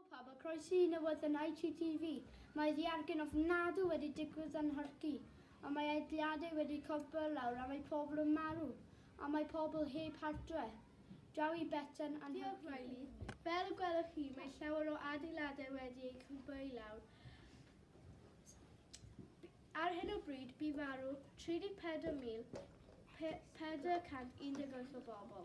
Helo pawb a croeso i newyddion ITTV. Mae ddiargen ofnadw wedi digwydd yn Nhorci, ond mae egliadau wedi cwympo i lawr a mae pobl yn marw, a mae pobl heb hartre. Draw i Betsan a Nhorci. Diolch Riley. Fel y gwelwch chi, mae llawer o adeiladau wedi eu cwympo i lawr. Ar hyn o bryd, bu farw 34,418 o bobl.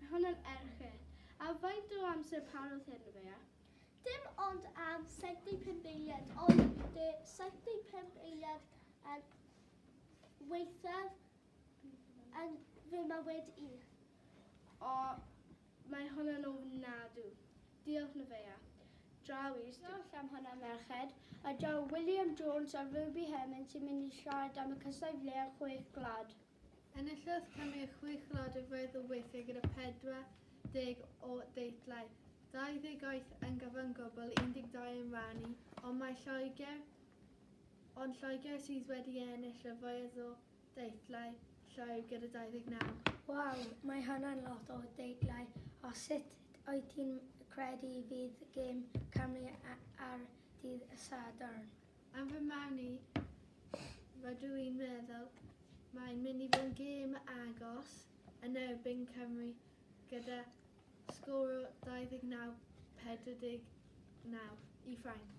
Mae hon yn erchyll. A faint o amser parodd hyn, Rebea? Dim ond am 75 eiliad, ond de 75 eiliad yn weithaf yn fy mywyd i. O, mae hwn yn ofnadw. Diolch, Neveah. Draw i'r stiwdio. Diolch am hwnna, merched. A daw William Jones a Ruby Herman sy'n mynd i siarad am y cysau flea'r Chwech Gwlad. Enillodd Cymru chwech ladd o fedd o weithiau gyda 40 o deitlau, 28 yn gyfan gwbl, 12 yn rhannu, ond mae Lloegr, ond Lloegr sydd wedi ennill y fwyaf o deitlau llwyr gyda 29. Waw, mae hynna'n lot o deitlau, a sut wyt ti'n credu fydd gêm Cymru ar dydd Sadwrn? Am fy marn i, rydw i'n meddwl mae'n mynd i fod yn gêm agos yn erbyn Cymru gyda sgôr o 29-49 i Ffrainc.